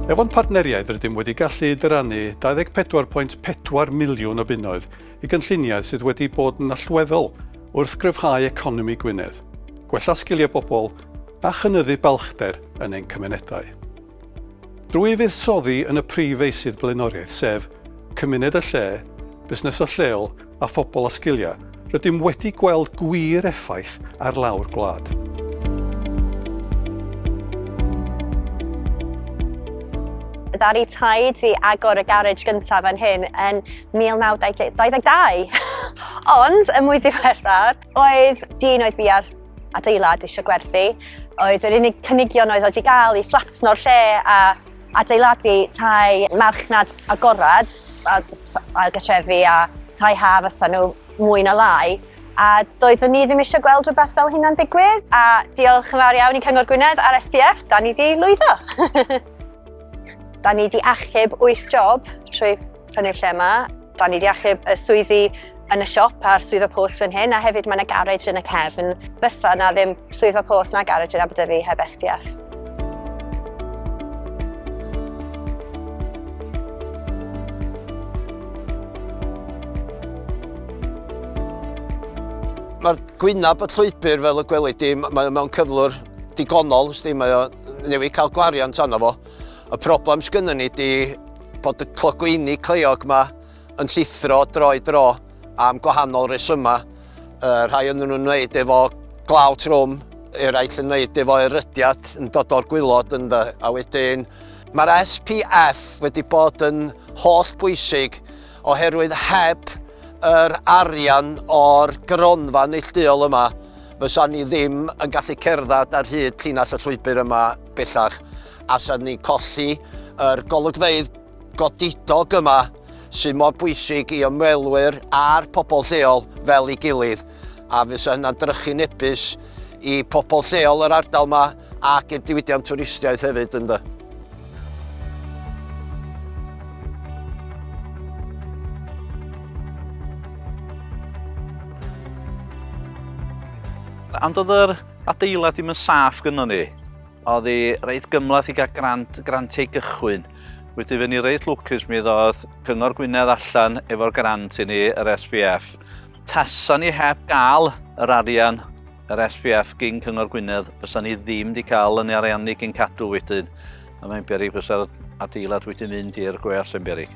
Efo'n partneriaid rydym wedi gallu dyrannu 24.4 miliwn o bunnoedd i gynlluniau sydd wedi bod yn allweddol wrth gryfhau economi Gwynedd, gwella sgiliau bobl a chynyddu balchder yn ein cymunedau. Drwy fuddsoddi yn y prif feysydd blaenoriaeth sef, cymuned a lle, busnesau lleol a phobl â sgiliau, rydym wedi gweld gwir effaith ar lawr gwlad. Ddaru taid fi agor y garej gyntaf fan hyn yn 1922 ond yn mwy ddiweddar Oedd dyn oedd bia'r adeilad eisiau gwerthu, oedd yr unig cynigion oedd oedd i gael i fflatno'r lle a adeiladu tai marchnad agorad, a ailgatrefi a tai ha fysa nhw mwy na lai. A doeddwn ni ddim eisiau gweld rhywbeth fel hynna'n digwydd. A diolch yn fawr iawn i Cyngor Gwynedd a'r SPF, da ni wedi lwyddo. da ni wedi achub 8 job trwy yn y lle yma. Da ni wedi achub y swyddi yn y siop a'r swyddfa post fan hyn, a hefyd mae yna garej yn y cefn. Fysa na ddim swyddfa post na garej yn Aberdyfi heb SPF. Mae'r gwynab y llwybr fel y gwelid di, mae mewn cyflwr digonol, sti, mae o newydd cael gwariant arno fo. Y problem sgynny ni di Bod y clogwyni cleiog yma yn llithro droi dro am gwahanol resymau. Uh, rhai yn nhw'n wneud efo glaw trwm, eraill yn wneud efo erydiad yn dod o'r gwylod yn dda, a wedyn Mae'r SPF wedi bod yn holl bwysig oherwydd heb yr arian o'r gronfa neillduol yma fysa ni ddim yn gallu cerdded ar hyd llinell y llwybr yma bellach. allan ni colli yr golygfeydd godidog yma sydd mor bwysig i ymwelwyr a'r pobl lleol fel ei gilydd a fysa hynna'n drychu nebus i pobl lleol yr ardal yma ac i'r diwydiant twristiaeth hefyd ynddo. Ond oedd yr adeilad ddim yn saff gynnon ni. Oedd hi reit gymlath i gael grant, grantiau gychwyn. Wedi fyny reit lwcus mi ddodd Cyngor Gwynedd allan efo'r grant i ni, yr SPF. Tasa ni heb gael yr arian, yr SPF gyn Cyngor Gwynedd, fysa ni ddim wedi cael yn ariannu gyn cadw wedyn. A mae'n berig fysa'r adeilad wedi mynd i'r gweall yn berig.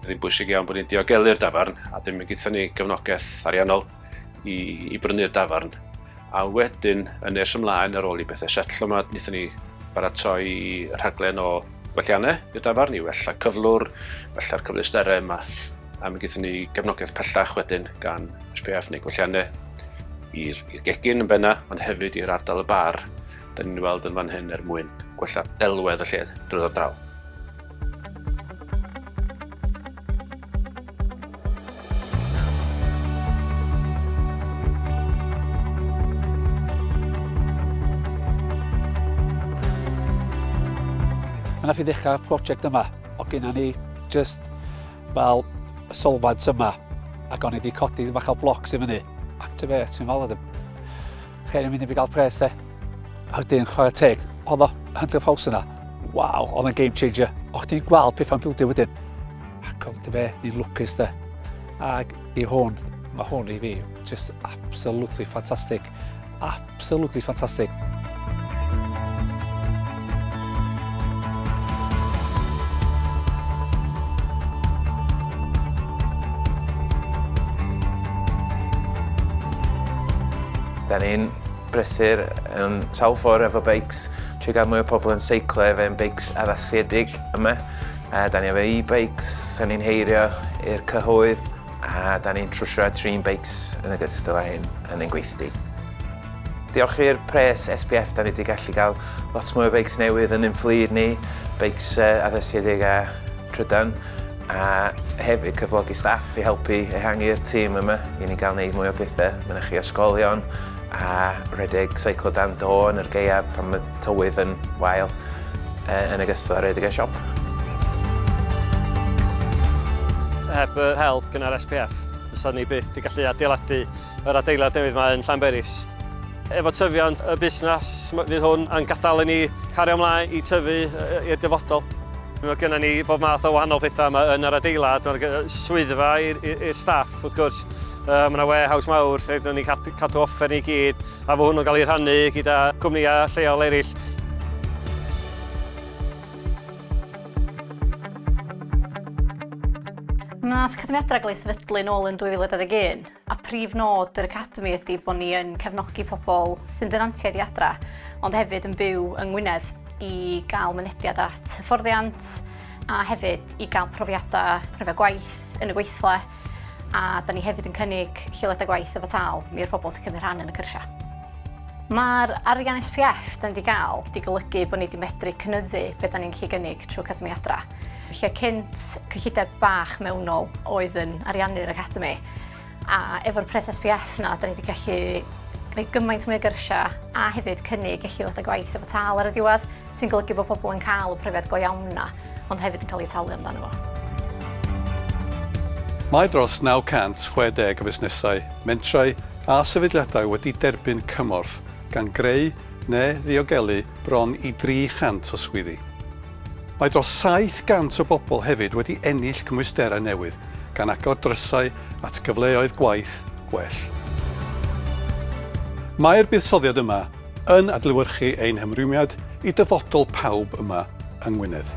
Mae'n rhy bwysig iawn bod ni'n diogelu'r dafarn a dim yn gyda ni gefnogaeth ariannol i, i brynu'r dafarn. A wedyn, yn nes ymlaen ar ôl i bethau setlo yma, wnaethon ni baratoi rhaglen o gwelliannau i'r dafarn i wella cyflwr, wella'r cyfleusterau yma. A mi gyda ni gefnogaeth pellach wedyn gan SPF neu gwelliannau i'r gegin yn benna, ond hefyd i'r ardal y bar, da ni'n weld yn fan hyn er mwyn gwella delwedd y lle drwy'r draw. Mae yna fi ddechrau prosiect yma, o gyna ni just fel y solfad yma, ac o'n i wedi codi bach o blocs i fyny. Activate, ti'n fel, Cher yn mynd i fi gael pres de. A wedyn, chwarae teg, oedd o Hunter Falls yna. Waw, oedd yn game changer. O chdi'n gweld pethau'n bildio wedyn. Ac oedd dy fe, ni'n lwcus de. Ac i hwn, mae hwn i fi, just absolutely fantastic. Absolutely fantastic. Da ni'n brysur um, sawl ffordd efo beics, trwy gael mwy o pobl yn seiclo efo ein beics addasiedig yma. A da ni efo e-bikes, da ni'n heirio i'r cyhoedd, a da ni'n trwsio a trin beics yn y gystal â hyn yn ein gweithdy. Diolch i'r pres SPF da ni wedi gallu cael lot mwy o beics newydd yn ein fflyd ni, beics addasiedig a trydan, a hefyd cyflogi staff i helpu ehangu'r tîm yma i ni gael gwneud mwy o bethau mynychu ysgolion a rhedeg seiclo dan do yn yr gaeaf pan mae tywydd yn wael, yn ogystal â rhedeg y siop. Heb yr help gynnar SPF, fysa ni byth wedi gallu adeiladu Yr adeilad newydd mae yn Llanberis. Efo tyfiant y busnes, fydd hwn yn gadael i ni cario ymlaen i tyfu i'r dyfodol. Mae gennym ni bob math o wahanol pethau yma yn yr adeilad. Mae'r swyddfa i'r staff, wrth gwrs. Mae yna warehouse mawr lle dyn ni'n cadw offer ni gyd, a fo hwnnw'n cael ei rhannu gyda cwmnïau lleol eraill. Wnaeth cyfyngiadau gael ei sefydlu nôl yn 2021. a prif nod yr Academi ydy bod ni yn cefnogi pobl sy'n dynantiaid i adra, ond hefyd yn byw yng Ngwynedd i gael mynediad at hyfforddiant a hefyd i gael profiadau rhyfedd gwaith yn y gweithle a da ni hefyd yn cynnig lleoliadau gwaith efo tal mi i'r pobl sy'n cymryd rhan yn y cyrsiau. Mae'r arian SPF da ni wedi cael wedi golygu bod ni wedi medru cynyddu beth da ni'n gallu gynnig trwy Academi Adra. lle cynt cyllideb bach mewnol oedd yn ariannu'r Academi, a efo'r pres SPF na, da ni wedi gallu gwneud gymaint mwy o gyrsiau a hefyd cynnig eich ddod â gwaith efo tal ar y diwedd, sy'n golygu bod pobl yn cael y profiad go iawn na, ond hefyd yn cael ei talu amdano fo. Mae dros 960 o fusnesau, mentrau a sefydliadau wedi derbyn cymorth, gan greu neu ddiogelu bron i 300 o swyddi. Mae dros 700 o bobl hefyd wedi ennill cymwysterau newydd, gan agor drysau at gyfleoedd gwaith gwell. Mae'r buddsoddiad yma yn adlewyrchu ein hymrwymiad i dyfodol pawb yma yng Ngwynedd.